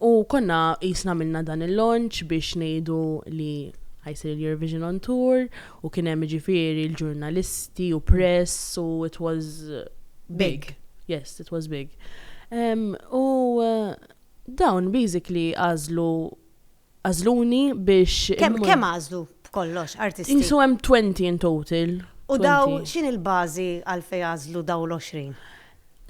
C: U konna qisna minna dan il-launch biex ngħidu li ħajsir il-Eurovision on Tour u kien hemm ġifieri l-ġurnalisti u press u it was big. Yes, it was big. U dawn basically għażlu għażluni biex. Kemm kemm għażlu
A: b'kollox artisti? Qisu hemm 20 in
C: total. U daw
A: x'inhi l-bażi għalfejn għażlu dawn l-20?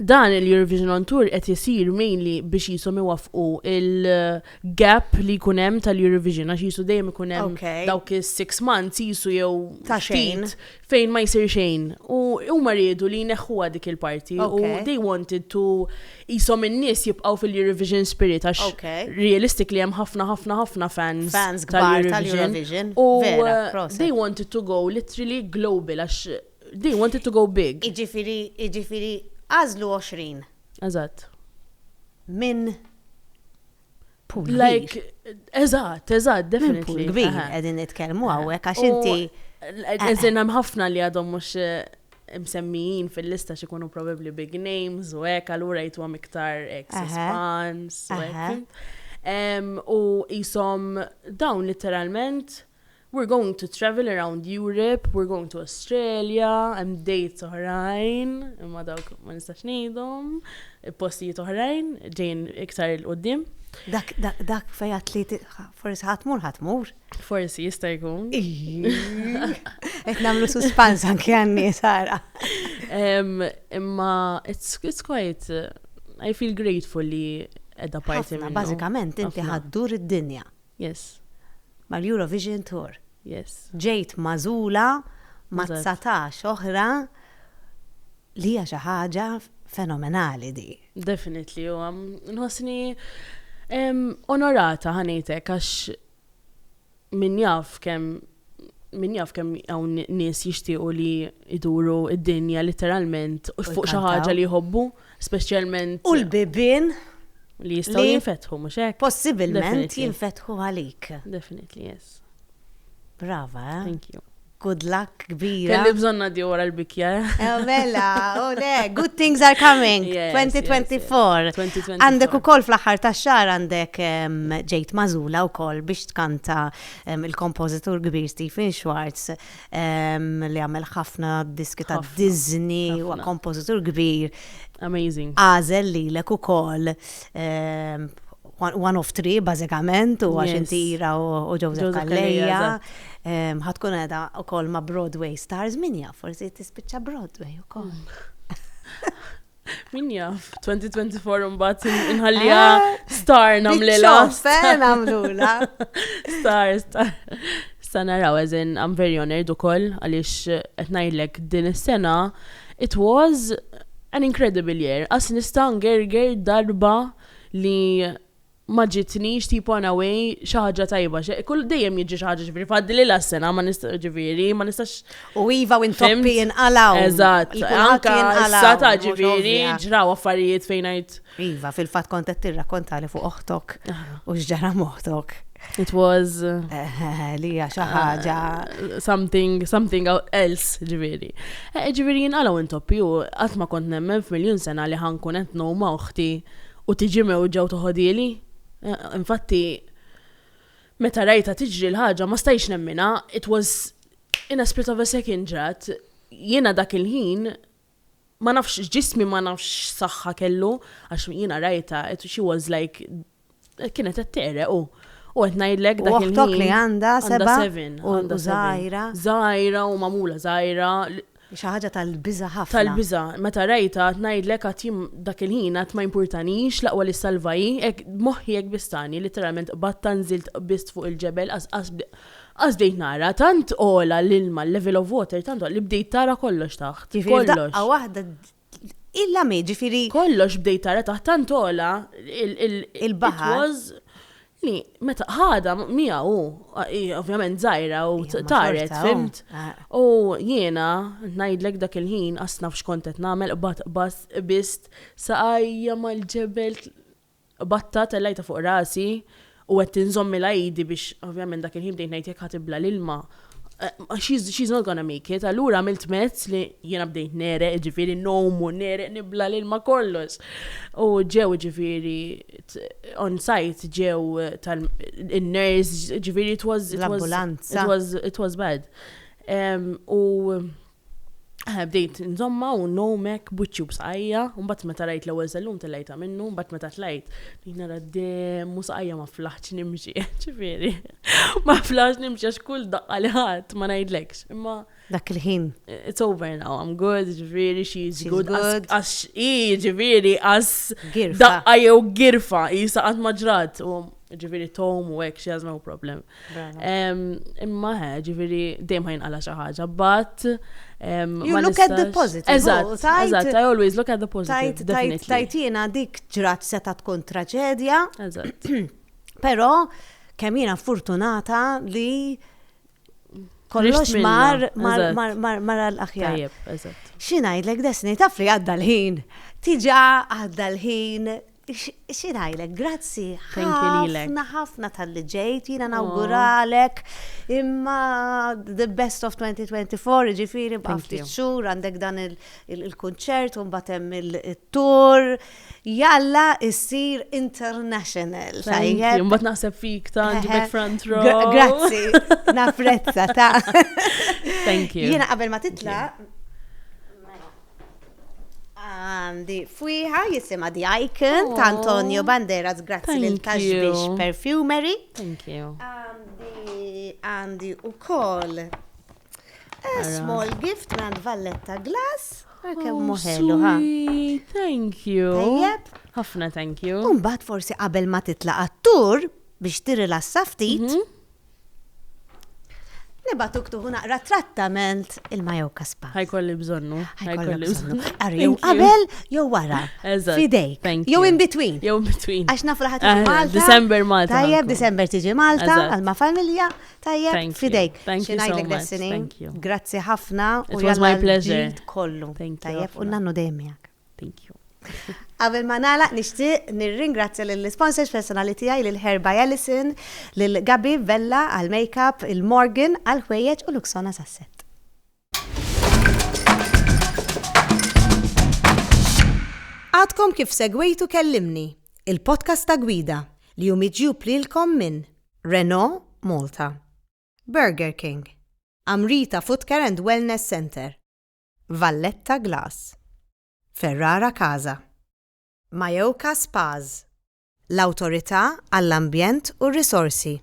A: Dan
C: il-Eurovision on Tour qed isir mainly biex qishom iwaffqu il-gap li jkun hemm tal-Eurovision għax qisu dejjem ikun hemm dawk is-six months qisu jew ftit fejn ma jsir xejn. U huma riedu li jneħħuha dik il-parti. U they wanted to jisom in-nies jibqgħu fil-Eurovision spirit għax realistic li hemm ħafna ħafna ħafna fans. Fans kbar tal-Eurovision. U uh, they wanted to go literally global għax they wanted to go big. Iġifiri, iġifiri,
A: għazlu 20. Eżatt. Minn Pool like,
C: eżatt, eżatt, definitely. Pool kbir, għedin
A: nitkelmu għawek, għax inti. Eżin
C: hemm ħafna li għadhom mux eh, msemmijin fil-lista xikunu probabli big names u hekk allura jitwa miktar ex spans u U jisom dawn literalment We're going to travel around Europe, we're going to Australia, hemm dates oħrajn, imma dawk ma nistax ngħidhom, postijiet oħrajn ġejn iktar il qudiem Dak dak dak
A: fejat li forsi ħatmur ħatmur. Forsi jista'
C: jkun.
A: Qed nagħmlu suspans anke għanni sara.
C: Imma it's quite I feel grateful li edha parti minna. Bażikament inti
A: ħaddur id-dinja. Yes.
C: Mal-Eurovision
A: Tour. Yes. Ġejt
C: magħżula
A: ma' 19 oħra li hija xi ħaġa fenomenali di. Definitely, u għam,
C: nħosni onorata ħanejtek għax min jaf kem min jaf kem għawn nis jishtiqu li iduru id-dinja literalment fuq xaħġa li jħobbu. Speċjalment. U l-bibien.
A: Li jistgħu
C: jinfetħu, mhux hekk? Possibilment
A: jinfetħu għalik. Definitely, yes.
C: Brava,
A: eh? Thank you.
C: Good luck,
A: kbira. Kelli bżonna di wara
C: l-bikja. Eh? Eh, mela,
A: u oh, le, good things are coming. 2024. Għandek u koll fl-axar ta' xar għandek ġejt mażula u koll biex tkanta il-kompozitur kbir Stephen Schwartz li għamel ħafna diski ta' Disney, u kompożitur kbir. Amazing.
C: Għażel lilek
A: ukoll one of three bażikament u għax inti ira u Joseph Calleja. Ħatkun qiegħda wkoll ma' Broadway stars min jaf forsi tispiċċa Broadway ukoll. Min
C: jaf, 2024 unbat inħallija ah, star namlila. Star namlula.
A: Star,
C: star. Sa naraw, eżin, I'm very honored u koll, għalix etnajlek din is-sena, it was an incredible year. As nista' ngerger darba li ma ġitnix tipo in a way xi ħaġa tajba xe kull dejjem jiġri xi ħaġa ġifieri f'għaddililha s-sena ma nista' ġifieri ma nistax U iva u
A: intoppi jinqalgħu. Eżatt, Il-kulħadd anka
C: jinqalgħu, issa ta' mhux ġifieri ovvja. ġraw affarijiet fejn ngħid Iva, fil-fatt kont
A: qed tirrakkontali fuq oħtok u x'ġara m'oħtok. it was
C: Li hija
A: xi ħaġa. something
C: something out- else ġifieri. Eh, Ġifieri jinqalgħu intoppi u qatt ma kont nemmen f'miljun sena li ħa nkun qed ngħum ma' oħti U tiġi mewġa u toħodhieli. Infatti, meta rajtha tiġri l-ħaġa ma stajtx nemminha, it was in a split of a second ġrat. Jiena dak il-ħin ma nafx ġismi ma nafx x'saħħa kellu għax jiena rajtha she was like kienet qed tegħreq u u qed ngħidlek dak il-ħin. U oħtok li għandha seba'
A: u żgħira.
C: Żgħira u magħmula żgħira. Hi xi ħaġa
A: tal-biża' ħafna. Tal-biża'. Meta rajtha,
C: għad ngħidlek għad jien dak il-ħin għad ma jimpurtanix, l-aqwa li ssalva hi, hekk b'moħħi hekk bistani, litteralment qbadtha nżilt qbiżt fuq il-ġebel qas qas qas bdejt nara, tant għola l-ilma l-level of water tant għola li bdejt tara kollox taħt, kollox. Jifieri f'daqqa waħda
A: Il-lami, ġifiri. Kollox bdejt tara
C: taħt tant ola il-baħar. was li meta ħada mija u ovvjament żgħira u taret, fimt. U jiena ngħidlek dak il-ħin qasna f'xkont qed nagħmel qbad bast bist saqajja mal-ġebel Qbadtha, tellgħitha fuq rasi u għedt inżomm il-għidi biex, ovvjament dak il-ħin bdejt ngħid jekk ħa tibla' l-ilma, she's she's not gonna make it, allura għamilt mezz li jiena bdejt negħreq, jiġifieri ngħum u negħreq nibla' l-ilma kollox. U ġew jiġifieri on site ġew tal in-nurse jiġifieri it was
A: it was it was it was
C: bad. U Bdejt nżommha u nnowm hekk b'wiċċi u b'saqajja, u mbagħad meta rajt l-ewwel sellum tellgħitha minnu, mbagħad meta tlajt bdejt nara d-demm u saqajja ma flaħtx nimxi, ġifieri ma flaħtx nimxi għax kull daqqa li ħadt ma ngħidlekx. Imma dak il-ħin.
A: It's over now,
C: I'm good, ġifieri she's good. Għax hi ġifieri għas daqqa jew girfa, jisa qatt ma ġrat. Ġifieri tom u hekk she has no problem. Imma ħe, ġifiri, dejjem ħajn għala xaħġa, but. You
A: look at the positive. Eżatt, eżatt,
C: I always look at the positive. Tajt, tajtina dik
A: ġrat seta tkun traġedja. Eżatt.
C: Pero,
A: kemm jiena fortunata li kollox mar mar l-aħjar. Tajjeb, eżatt.
C: Xinajdlek desni
A: taf li għadda l-ħin. Tiġa għadda l-ħin Xi ngħidlek, grazzi ħafna ħafna talli ġejt, jiena nawguralek imma the best of 2024, jiġifieri baqa' ftit xhur għandek dan il-kunċert u mbagħad hemm il-tour. Jalla issir international. Tajjeb. Mbagħad
C: naħseb fik ta' ġibek front row. Grazzi,
A: napprezza ta'. Thank
C: you. Jiena qabel ma titlaq
A: Għandi fwiħa jisima The Icon ta' Antonio Banderas grazzi lil Taxbix Perfumery. Thank you. Għandi u koll a small gift minn Valletta Glass. Għakem oh, muħelu, ha? Thank
C: you. Tajjeb. Ħafna
A: thank you.
C: Umbat forsi qabel
A: ma titla għattur biex tirrilassa ftit. Mhm. Nibgħatuk tuħu naqra trattament ilma jew kaspa. Ħajkolli bżonnu.
C: Ħajkolli bżonnu.
A: Ara jew qabel jew wara. Eżatt. Fidejk. Jew in between. Jew in between. Għax nafu
C: laħat eh, Malta.
A: December Malta. Tajjeb,
C: December tiġi
A: Malta, għalma familja. Tajjeb, fidejk. Thank you so much.
C: Thank you. Grazzi ħafna.
A: It was my pleasure.
C: Kollu. Tajjeb,
A: u nannu dejjem miegħek. Thank you.
C: Qabel ma
A: nagħlaq nixtieq nirringrazzja lill-isponsors personali tiegħi lil Hair by Alison, lil Gabi Vella għall-makeup, il Morgan għall-ħwejjeġ u Luxona sas-set. Għadkom kif segwejtu kellimni, il-podcast ta' gwida li hu miġjub lilkom minn Renault Malta, Burger King, Amrita Footcare and Wellness Center, Valletta Glass, Ferrara Casa, Mayoka Spas, l-Awtorità għall-Ambjent u r-Risorsi,